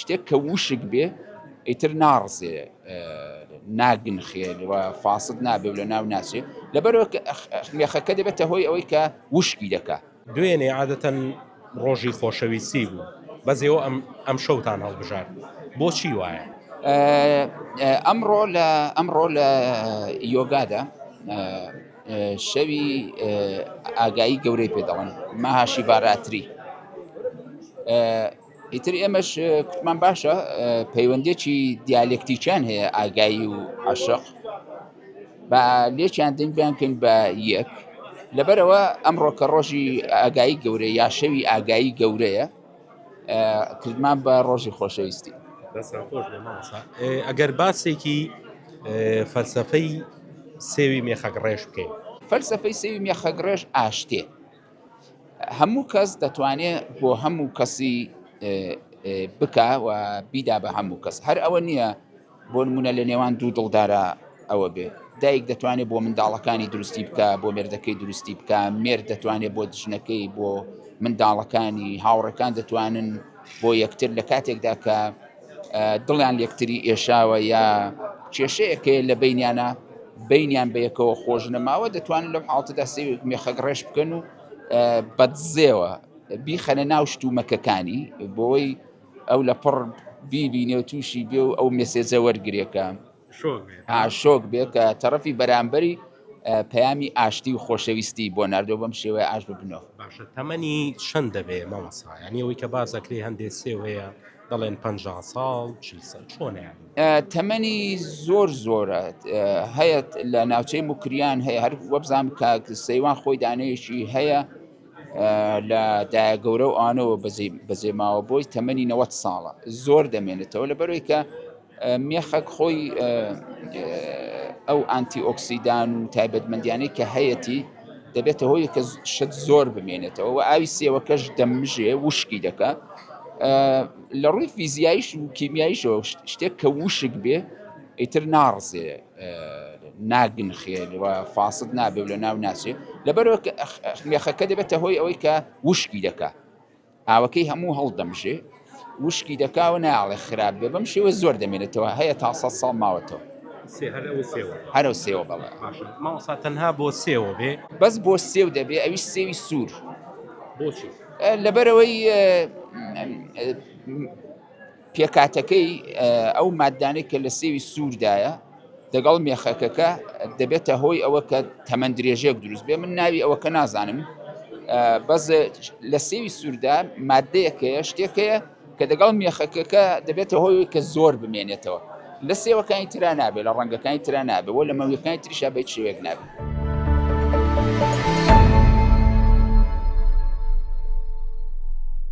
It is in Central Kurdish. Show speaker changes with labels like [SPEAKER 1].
[SPEAKER 1] شتێک کە ووشک بێ ئیتر ناڕزێ ناگنخێ و فاسد نابێ و لە ناو ناچێ لەبەرەوە کە مێخەکە دەبێتە هۆی ئەوەی کە ووشکی دەکا. دوێنێ عادەتەن
[SPEAKER 2] ڕۆژی خۆشەویستی بوو بەس ئێوە ئەمشەوتان هەڵبژارد بۆچی وایە؟ ئەمڕۆ لە
[SPEAKER 1] ئەمڕۆ لە یۆگادا شەوی ئاگایی گەورەی پێ دەڵێن ماهاشی ڤاراتری ئیتر ئێمەش کوتمان باشە پەیوەندێکی دیالکتیکیان هەیە ئاگایی و عشق بە لێکیان دەنگیان کەین بە یەک لەبەرەوە ئەمڕۆ کە ڕۆژی ئاگایی گەورە یا شەوی ئاگایی گەورەیە کردمان بە ڕۆژی خۆشەویستی
[SPEAKER 2] ئەگەر باسێکی فەلسفەی سێوی مێخەک ڕێش بکەین فەلسفەی سێوی
[SPEAKER 1] مێخەک ڕێش ئاشتێ هەموو کەس دەتوانێت بۆ هەموو کەسی بکە و بیدا بە هەموو کەس هەر ئەوە نییە بۆ نمونە لە نێوان دوو دڵدارە ئەوە بێ دایک دەتوانێت بۆ منداڵەکانی دروستی بکە بۆ مێردەکەی دروستی بکە مێر دەتوانێت بۆ دژنەکەی بۆ منداڵەکانی هاوڕەکان دەتوانن بۆ یەکتر لە کاتێکدا کە دڵیان لەیەکتری ئێشاوە یا کێشەیەک هەیە لە بەینیانە بەینیان بە یەکەوە خۆش نەماوە دەتوانن لەم حاڵتەدا سێوێک مێخەک ڕێش بکەن و بەدزێەوە بیخەنە ناو شتومەکەکانی بۆی ئەو لە پڕ بیبینێ و تووشی بێ و ئەو مێسێجە وەرگێکە شۆک بێت کە تەڕەفی بەرامبەری پەیامی ئاشتی و خۆشەویستی بۆ ناردۆ بەم شێوەیە ئاش ببنەوە. باشە تەمەنی
[SPEAKER 2] چەند دەبێ مامۆستا یانی ئەوەی کە باس ئەکرێ هەندێ سێو هەیە دەڵێن پەنجا ساڵ چل ساڵ چۆنە یانی؟ تەمەنی
[SPEAKER 1] زۆر زۆرە هەیە لە ناوچەی موکریان هەیە هەر وەبزانام کاک سەیوان خۆی دانەیەکی هەیە لە دایە گەورە و ئانەوە بەزی بەزێماوە بۆی تەمەنی 90 ساڵە زۆر دەمێنێتەوە لەبەرەوەی کە مێخەک خۆی ئەو ئانتی ئۆکسیدان و تایبەتمەندیانەی کە هەیەتی دەبێتە هۆی کە شت زۆر بمێنێتەوە و ئاوی سێوەکەش دەمژێ وشکی دەکە لە ڕووی فیزیایش و کیمیایشەوە شتێک کە وشک بێ ئیتر ناڕزێ ناگنخێ و فاسد نابێ لە ناو ناچێ لەبەرەوە مێخەکە دەبێتە هۆی ئەوەی کە وشکی دەکە ئاوەکەی هەموو هەڵدەمژێ وشکی دەکا و نایەڵێ خراپ بێ بەم شێوە زۆر دەمێنێتەوە هەیە تا سەد ساڵ ماوەتەوە هەرو سێوە بەڵێ ماوەسا تەنها
[SPEAKER 2] بۆ سێوە بێ بەس بۆ سێو
[SPEAKER 1] دەبێ ئەویش سێوی سوور
[SPEAKER 2] بۆچی
[SPEAKER 1] لەبەرەوەی پێکهاتەکەی ئەو ماددانەی کە لە سێوی سووردایە دەگەڵ مێخەکەکە دەبێتە هۆی ئەوە کە تەمەن درێژێک دروست بێ من ناوی ئەوەکە نازانم بەس لە سێوی سووردا مادەیەکەیە شتێکەیە کە دەگەڵ مێخەکەکە دەبێتە هۆی کە زۆر بمێنێتەوە لە سێوەکانی تررا نابێ لە ڕەنگەکانی تررا نابێ بۆ لە مەویەکانی تریشا بە شێوێک نابێت.